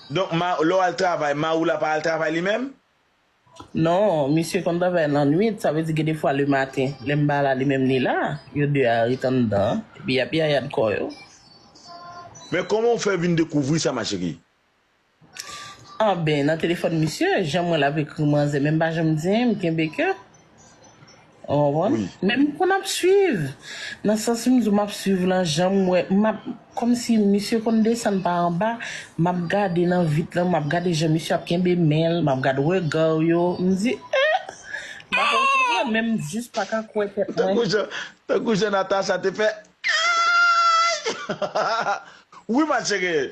Donk ma lè w al travay mari w la pa al travay li menm? Non, misye konn travay lannwit, sa vle di gen de fwa le maten lè m pa la li menm li la, yo 2 a ret anndan an epi y ap yayad kò yo. Men kòman w fè vin dekouvri sa ma chérie? Anben nan telefòn misye, jan m wè l ap ekri manzè men m pa janm di anyen m kenbe kè. Ou konprann? Men m konn ap swiv. Nan sans m di w m ap swiv lan, jan m wè, m ap, kòmsi misye konn desann pa anba, m ap gade nan vit lan, m ap gade jan misye ap kenbe men l, m ap gad rega w yo, m di ee! M pa konn konprann men m jis pa ka kwè tèt mwen. Tankou jan Natacha te fè ee! Wi ma chérie!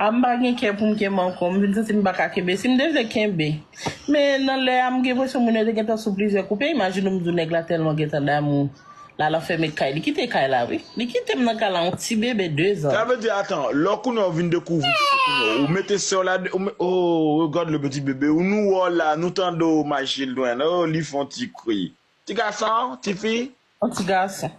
A m pa gen kè pou m kenbe ankò, m vin santi m pa ka kenbe. Si m te vle kenbe. Men nan lè a m gen enpresyon moun yo te gentan sou plizyè koupe, imajine w m di w nèg la tèlman gentan damou la l anfème kay, li kite kay la wi. Li kite m nan kay la yon ti bebe dezan. Sa vle di atan, lò kounye a w vin dekouvri se kounye a w mete sè w la de, oo regarde le petit bébé ou nou wè w la, nou tande w ma children, oo li fon ti kri. Ti gason, ti fi, On ti gason.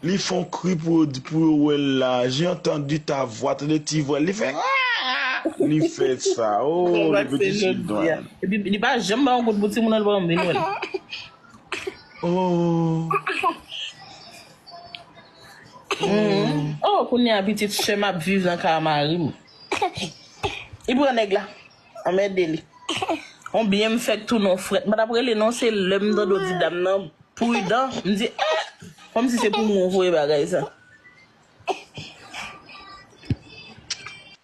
Li fon kri pou yo pou yo wèl la j'ai entendu ta voix tande ti vwal li fè aah li fè sa ooh le petit children. Epi li pa janm bay yon goud pou timoun an li pa janm vin wèl. Ooh. Oh kounya pitit sèm ap viv nan ka marim. Li pran nèg la. Anmède li. On byen m fèk tounen on frèt. M pa t ap rele non, se lè m tande w di dam nan pridan, m di eh! Kòmsi se pou mwen w voye bagay sa.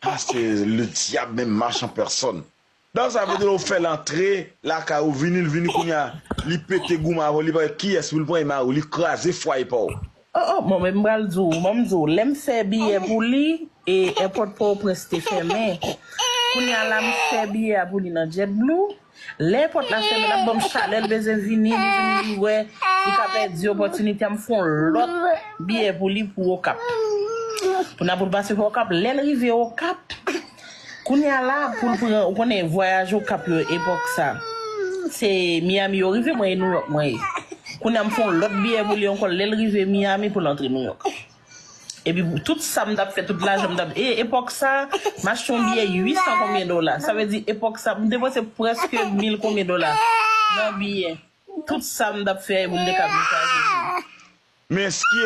Ah se le diable menm marche en personne. Donk sa vle di ou fèl antre lakay ou vini li vini kounya li pete goumen avèw li pa wè kiyès poul pran e mariw li kraze fwaye paw. Oh oh bon men m pral di w bon m di w lè m fè biyè pou li e èpòt pòtoprens te fèmen kounye a la m fè biyè a pou li nan jet blue lè èpòt la fèmen l ap ban m chalè l bezwen vini li vin li wè li ka pèdi opòtinite a m fon lòt biyè pou li pou okap pou n a pou l pase pa okap lè l rive okap. Kounya la poul pran ou konnen vwayaj okap yo epòk sa se Miami yo rive mwen e Nouyòk mwen ye kounya m fon lòt biyè pou li ankò lèl rive Miami poul antre Nouyòk epi tout sam tap fè tout lajanm tap e epòk sa m achte yon biyè 800 konbyen dola sa vle di epòk sa m depanse prèske mil konbyen dola nan biyè tout sam tap fè poum te ka vin sa jezi. Men ske